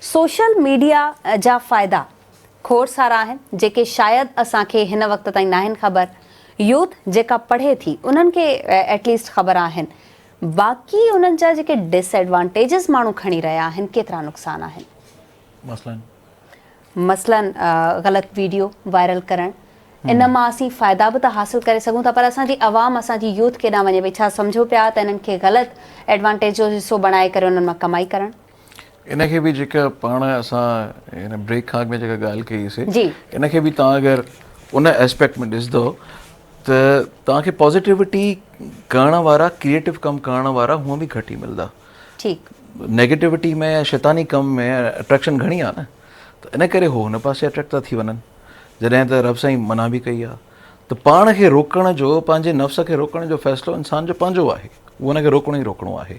social media جا فائدا کوڙ سارا آهن جيڪي شايد اسان کي هن وقت تائين ناهن خبر يوٿ جيڪا پڙهي ٿي انهن کي ايٽ ليسٽ خبر آهن باقي انهن جا جيڪي ڊس ايڊوانٽيجز ماڻهو کڻي رهيا آهن ڪيترا نقصان آهن مثلاً مثلاً غلط ويڊيو وائرل ڪرڻ ان مان اسين فائدا به ته حاصل ڪري سگهون ٿا پر اسان جي عوام اسان جي يوٿ ڪيڏانهن وڃي پئي ڇا سمجهو پيا ته انهن کي غلط ايڊوانٽيجز حصو بڻائي ڪري انهن مان ڪمائي ڪرڻ ان کي به جيڪا پاڻ اسان هن بريڪ کان اڳ ۾ جيڪا ڳالهه ڪئي سي ان کي به تان اگر ان اسپيڪٽ ۾ ڏسندو ته تان کي پازيٽيوٽي ڪرڻ وارا ڪريئيٽو ڪم ڪرڻ وارا هونء به گهٽ ئي ملندا نيگيٽيوٽي ۾ يا شيطاني ڪم ۾ اٽريڪشن گهڻي آهي نه ته ان ڪري هو هن پاسي اٽريڪٽ ٿا ٿي وڃن جڏهن ته رب سائين منع به ڪئي آهي ته پاڻ کي روڪڻ جو پنهنجي نفس کي روڪڻ جو فيصلو انسان جو پنهنجو آهي هو هن کي روڪڻو ئي روڪڻو آهي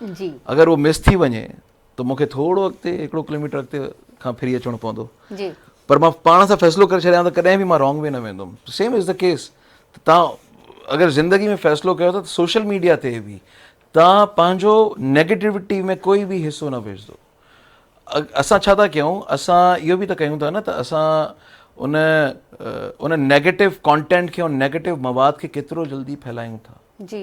جي اگر اهو مس ٿي وڃي ته مون کي ٿورو اڳتي هڪڙو ڪلوميٽر اڳتي کان ڦري اچڻو پوندو جي پر مان پاڻ سان فيصلو ڪري ڇڏيان ته ڪڏهن به مان رانگ وي نه ويندم سيم از دا ڪيس ته تان اگر زندگي ۾ فيصلو ڪيو ته سوشل ميڊيا تي به تان پنهنجو نيگيٽوٽي ۾ ڪوئي به حصو نه وجهدو اسان ڇا ٿا ڪيون اسان اهو به ته ڪيون ٿا نه ته اسان ان ان نيگيٽو ڪانٽينٽ کي نيگيٽو مواد کي ڪيترو جلدي ڦهلايون ٿا جي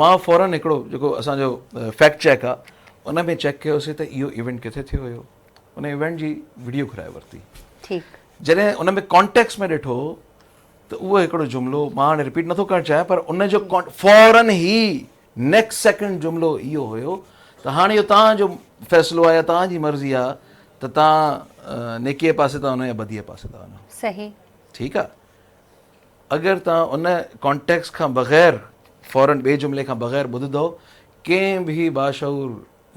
مان فورن هڪڙو جيڪو اسان جو فيڪٽ چيڪ آ ان ۾ چيڪ ڪيوسي ته اهو ايونٽ ڪٿي ٿيو هيو ان ايونٽ جي ويڊيو گهرائي ورتي ٺيڪ جڏهن ان ۾ ڪانٽيڪس ۾ ڏٺو ته اهو هڪڙو جملو مان هاڻي رپيٽ نٿو ڪرڻ چاهيان پر ان جو فورن هي نيڪسٽ سيڪنڊ جملو اهو هيو ته هاڻي اهو توهان جو فيصلو آ يا توهان جي مرضي آ ته توهان نيڪي پاسي ٿا وڃو يا بدي پاسي ٿا وڃو صحيح ٺيڪ آ اگر توهان ان ڪانٽيڪسٽ کان بغير فورن ٻئي جملي کان بغير ٻڌندؤ ڪنهن به باشعور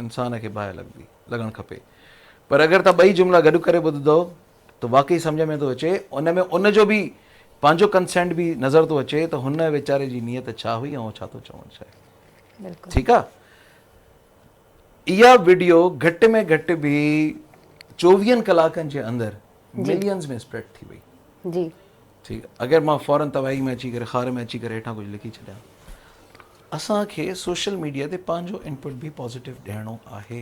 انسان کي باهه لڳندي لڳڻ کپي پر اگر توهان ٻئي جملا گڏ ڪري ٻڌندؤ ته واقعي سمجهه ۾ ٿو اچي ان ۾ ان جو به پنهنجو ڪنسينٽ به نظر ٿو اچي ته هن ويچاري جي نيت ڇا هئي ۽ هو ڇا ٿو چوڻ چاهي ٺيڪ آهي اها وڊيو گهٽ ۾ گهٽ به چوويهن ڪلاڪن جي اندر ملينز ۾ اسپريڊ ٿي وئي جي ٺيڪ اگر مان فورن تباهي ۾ اچي ڪري خار ۾ اچي ڪري هيٺان ڪجهه لکي ڇڏيان اسان کي سوشل ميڊيا تي پنهنجو انپٽ به پازيٽو ڏيڻو آهي